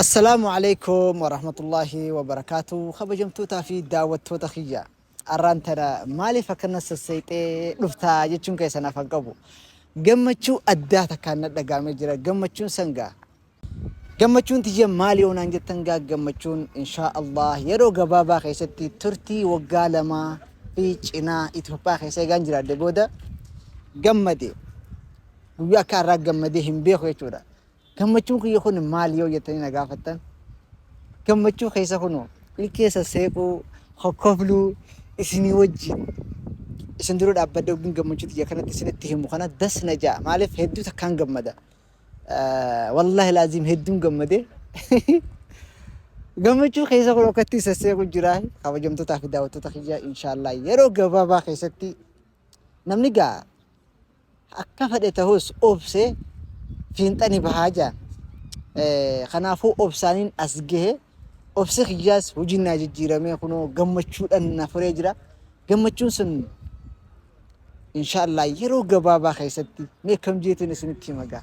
Assalaamu Aleykum Warahmatullaahi Wabarakaatu Kabajamtootaa fi daawwattoota kiyya arraan tana maaliif akkana sasseexee dhuftaa jechuun keessan afan qabu gammachuu addaa takkaan na dhagaamee jira gammachuun sangaa gammachuun tiyya maali onaan jettan gaa gammachuun inshaa Allah yeroo gabaabaa keessatti turtii waggaa lamaa fi cinaa Itoophiyaa keessa eegaan jiraadhe booda gammade guyyaa akka har'aa gammadee hin beeku jechuudha. Gammachuun kiyya kun maali yoo jettanii na gaafattan gammachuu keessa kunoo ilkee sasseequu, kokkofluu isinii wajjin isin dura dhaabbadhee ogin gammachuu tiyya kanatti isinitti himu kana das na ja'a. Maaliif hedduu takkaan gammada. Eh, Wallaahi laaziim hedduun gammade. Gammachuu keessa kun akkatti sasseequ jira. Kabajamtootaa fi daawwattoota kiyya inshaallah yeroo gabaabaa keessatti namni gaa Akka fedhe tahus obsee fiinxa ni bahaa jaan. Kanaafuu obsaaniin as gahe. Obsi kiyyaas hojiin naa jijjiiramee kunoo gammachuudhaan na furee jira. Gammachuun sun inshaallah yeroo gabaabaa keessatti mee kam jeetiin isinitti hima gaa.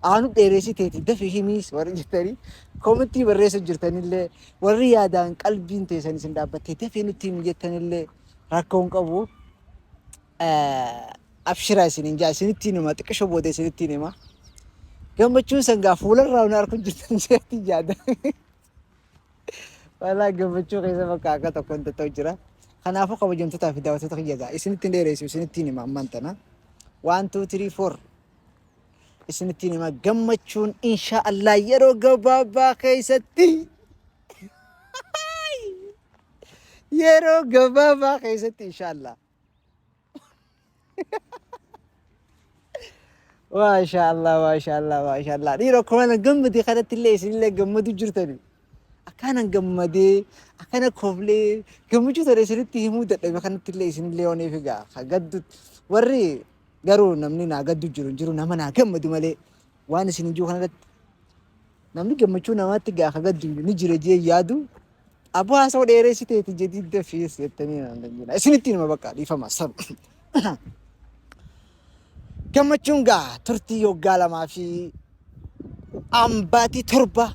Aanu dheereessiteeti dafi himiis warri jettanii koomentii barreessu jirtanillee warri yaadaan qalbiin teessan isin dhaabbattee dafii nutti himi jettanillee rakkoo hin qabu. Abshira isinin jaa isinitti hinuma xiqqisho booda isinitti hin hima. Gammachuun sangaa fuularraa hin arku jirtan jeetti jaada. Walaa gammachuu keessa bakka akka tokko hin ta'u jira. Kanaafuu kabajamtootaa fi daawwattoota kiyya gaa isinitti hin dheeressu isinitti hin hima ammaan tana. Waan tuu tirii foor isinitti hin hima gammachuun inshaa Allah yeroo gabaabaa keessatti yeroo gabaabaa keessatti inshaa Allah. Maashaa Allah, maashaa Allah, maashaa Allah. Dhiira akkuma nan gammade kanatti illee isinillee gammadu jirtani. Akkaanan gammadee, akkana koflee, gammachuu ta'e isinitti himuu dadhabe kanatti illee isinillee waan eefi gaa. Ka gaddu warri garuu namni naa gaddu jiru hin jiru nama naa gammadu malee. Waan isin ijuu kanarratti namni gammachuu namaatti gaa ka gaddu ni jira jee yaadu abu haasoo dheereessiteeti jedhii dafees jettanii naan dandeenya. Isinitti nima bakka dhiifama sab. Gammachuun gaa turtii yoggaa lamaa fi ambaatii torba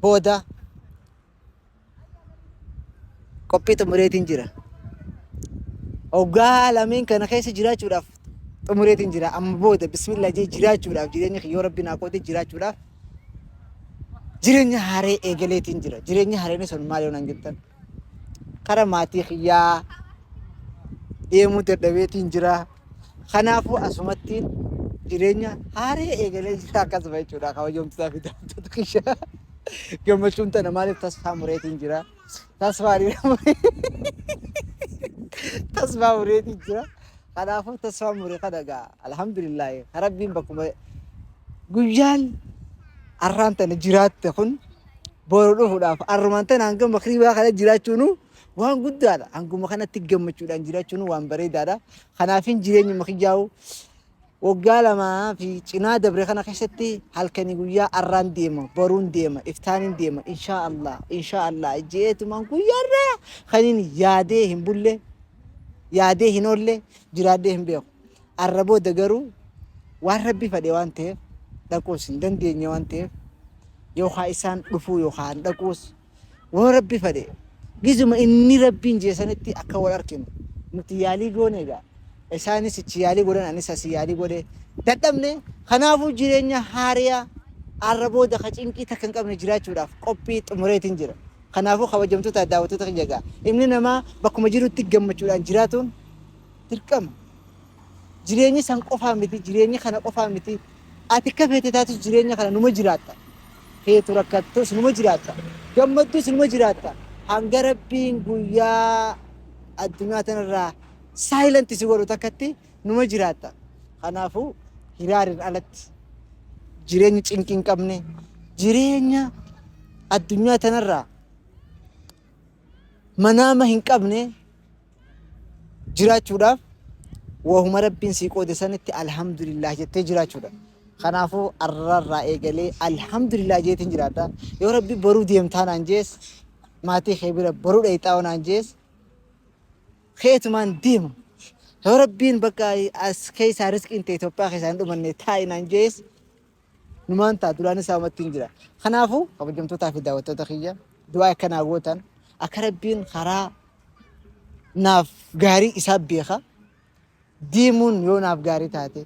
booda qophii xumureetiin jira. Hoggaa lameen kana keessa jiraachuudhaaf xumureetiin jira. Amma booda bismillah jee jiraachuudhaaf jireenya kiyya yoo rabbiin haa qoode jiraachuudhaaf jireenya haaree eegaleetiin jira. Jireenya haareen sun maal yoo naan jettan? Kara maatii kiyyaa deemuu dadhabeetiin jira. Kanaafuu asumattiin jireenya haaree eegalee jira akkasuma jechuudha kabajamtoota fi daawwattoota kiyya. Gammachuun tana maaliif tasfaa mureetiin jira. Tasfaa tasfaa mureetiin jira. Kanaafuu tasfaa mure kana egaa alhamdulillaahi rabbiin bakkuma guyyaan arraan tana jiraatte kun boru dhufuudhaaf arrumaan tanaan gama kiribaa kana jiraachuunuu waan guddaadha. Hanguma kanatti gammachuudhaan jiraachuun waan bareedaadha. Kanaafin jireenyuma kiyyaa'u waggaa lamaa fi cinaa dabre kana keessatti halkanii guyyaa arraan deema, boruun deema, iftaaniin deema, inshaa Allah, inshaa Allah jeetumaan guyyaarraa kanin yaadee hin bulle, yaadee hin oolle, jiraadhee hin beeku. Arra booda garuu waan rabbi fadhe waan ta'eef dhaquus hin dandeenye waan ta'eef yookaan isaan dhufuu yookaan dhaquus Yoo Rabbi fadhe gizuma inni Rabbiin jee sanitti akka wal arkinu nuti yaalii goone egaa isaanis ichi yaalii godhan anis asi yaalii godhe dadhabne kanaafuu jireenya haariya arra booda ka cinqii takka hin qabne jiraachuudhaaf qophii xumureetiin jira. Kanaafuu kabajamtoota daawwattoota kiyya egaa ilmni namaa bakkuma jirutti gammachuudhaan jiraatuun dirqama. Jireenyi san qofaa miti, jireenyi kana qofaa miti. Ati akka feete taatus jireenya kana numa jiraatta. Feetu rakkattus numa jiraatta. Gammaddus numa jiraatta. Hanga Rabbiin guyyaa addunyaa tanarraa silent si godhu takkatti numa jiraatta. Kanaafuu hiraariin alatti jireenyi cinqii hin qabne jireenya addunyaa tanarraa manaama hin qabne jiraachuudhaaf wahuma rabbiin sii qoode sanitti alhamdulillah jettee jiraachuudha. Kanaafuu arrarraa eegalee alhamdulillah jeetiin jiraadha. Yoo rabbi boruu deemtaa naan jees maatii kee bira boruu dhayxaa naan jees keetumaan deema. Yoo rabbiin bakka as keessaa riskiin ta'e Itoophiyaa keessaa hin dhumanne taa'i naan jees Numaan ta'a duraan isaa umattiin jira. Kanaafuu kabajamtootaa fi daawwattoota kiyya du'aa akka naa gootan akka rabbiin karaa naaf gaarii isaa beeka. Deemuun yoo naaf gaarii taate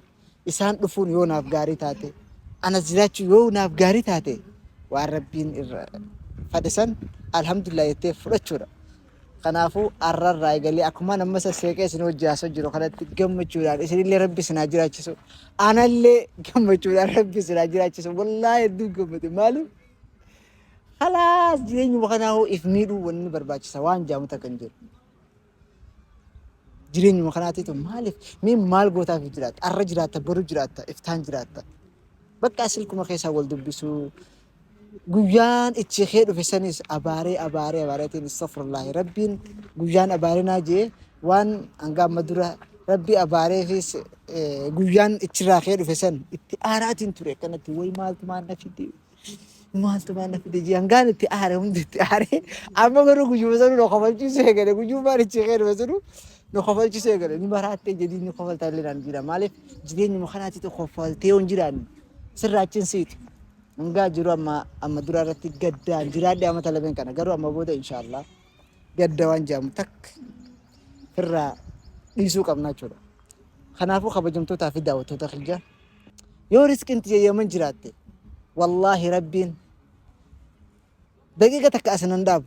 isaan dhufuun yoo naaf gaarii taate anas jiraachuu yoo naaf gaarii taate waan rabbiin irra fadhisan alhamdulillah jettee fudhachuudha. Kanaafuu arrarraa eegalee akkumaan amma sasseeqee isin hojii haasoo jiru kanatti gammachuudhaan isinillee rabbi isin haa jiraachisu. Anallee gammachuudhaan rabbi isin haa jiraachisu. Wallaahi hedduu gammade maaliif halaas jireenyuma kanaa hoo if miidhuu wanni barbaachisa waan jaamu takka hin jiru. Jireenyuma kanaatiitu maaliif mee maal gootaaf jiraatta? Arra jiraatta, boru jiraatta, iftaan jiraatta. Bakka silkuma keessaa wal dubbisuu, Guyyaan ichi kee dhufe sanis abaaree abaaree abaareetiin istofurlaahi rabbiin guyyaan abaarinaa jee waan hanga amma dura rabbi abaareefis eh, guyyaan ichirraa kee dhufe san itti aaraatiin ture akkanatti way maaltu maal na fide maaltu maal na fide jee hangaan itti aare hundi itti aare amma garuu guyyuma sanuu na kofalchiisuu eegale guyyummaan ichi kee dhufe sanuu na kofalchiisuu eegale ni maraattee jedhii ni kofaltaa illee naan jira maaliif jireenyuma kanaatti tokko kofaltee yoo hin jiraanne sirraa achiin siiti. hangaa jiru amma amma dura irratti gaddaan jiraadhe amma talabeen kana garuu amma booda inshaallah gadda waan jedhamu takka irraa dhiisuu qabna jechuudha. Kanaafuu kabajamtootaa fi daawwattoota kiyya yoo riskiin tiyya yaman jiraatte wallaahi rabbiin daqiiqa takka asinan dhaabu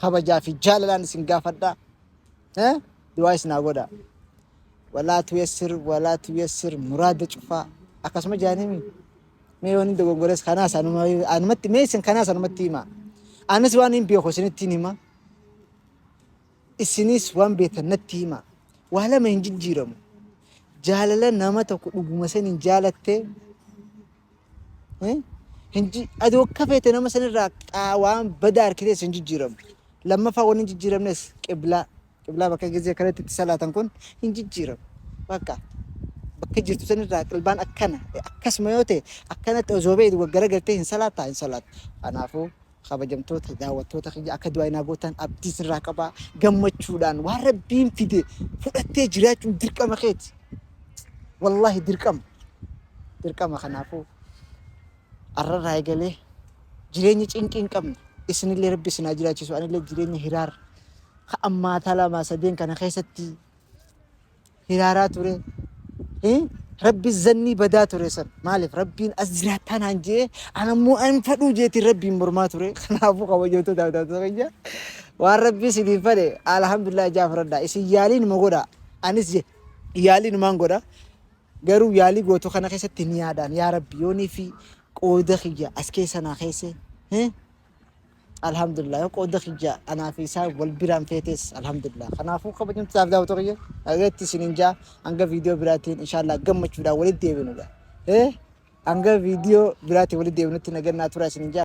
kabajaa fi jaalalaan isin gaafadha. Eh? Du'aa isin haa godha. Walaa tuyassir, walaa tuyassir, muraada cufaa. Akkasuma jaanimi. Mee waan hin dogongores kanaas anuma, anumatti, mee isin kanaas anumatti hima. Anis waan hin beeku isinitti hin hima. Isinis waan beektan natti hima. Waa lama hin jijjiiramu. Jaalala nama tokko dhuguma saniin jaalattee Eh? Hin ji- Ati akka feete nama sanirraa qaa- waan badaa harkitees hin jijjiiramu. Lammaffaa waan hin jijjiiramnes qiblaa. Qiblaa bakka gizee kanatti itti salaatan kun hin jijjiiramu. Bakka bakka jirtu sanirraa qilbaan akkana akkasuma yoo ta'e akkanatti osoo beektu gaggaragaltee hin salaataa hin salaatta. Kanaafuu Kabajamtoota daawwattoota kiyya akka du'aa naa gootan abdii sirraa qaba. Gammachuudhaan waan rabbiin fide fudhattee jiraachuun dirqama keeti. Wallaahi dirqama. Dirqama kanaafuu har'arraa eegalee jireenya cinqii hin qabne isinillee rabbi isin haa jiraachisu anillee jireenya hiraar ka ammaataa lamaa sadeen kana keessatti hiraaraa ture. Eh, Rabbi zannii badaa ture san. Maaliif Rabbiin as jiraattaa naan jee an ammoo an fadhuu jeetiin Rabbiin mormaa ture. Kanaafuu kabajamtuu daawwattoota keenya waan Rabbii isiniif fale alhamdulillah ijaa fudhadhaa. Isin yaaliin ma godhaa? Anis je- yaaliin maan godhaa? Garuu yaalii gootu kana keessatti ni yaadaan yaa Rabbi yoonii fi qooda kiyya as keessa naa keesse. Eh, Alhamdulillah yoo qooda kiyya anaa fi isaa wal biraan feetes alhamdulillah. Kanaafuu kabajamtu taaf daawwatu kiyya dhageetti isin hin jaa hanga viidiyoo biraatiin inshaallah gammachuudhaan walitti deebinu. Eh hanga viidiyoo biraatiin walitti deebinutti nagannaa tura isin hin jaa.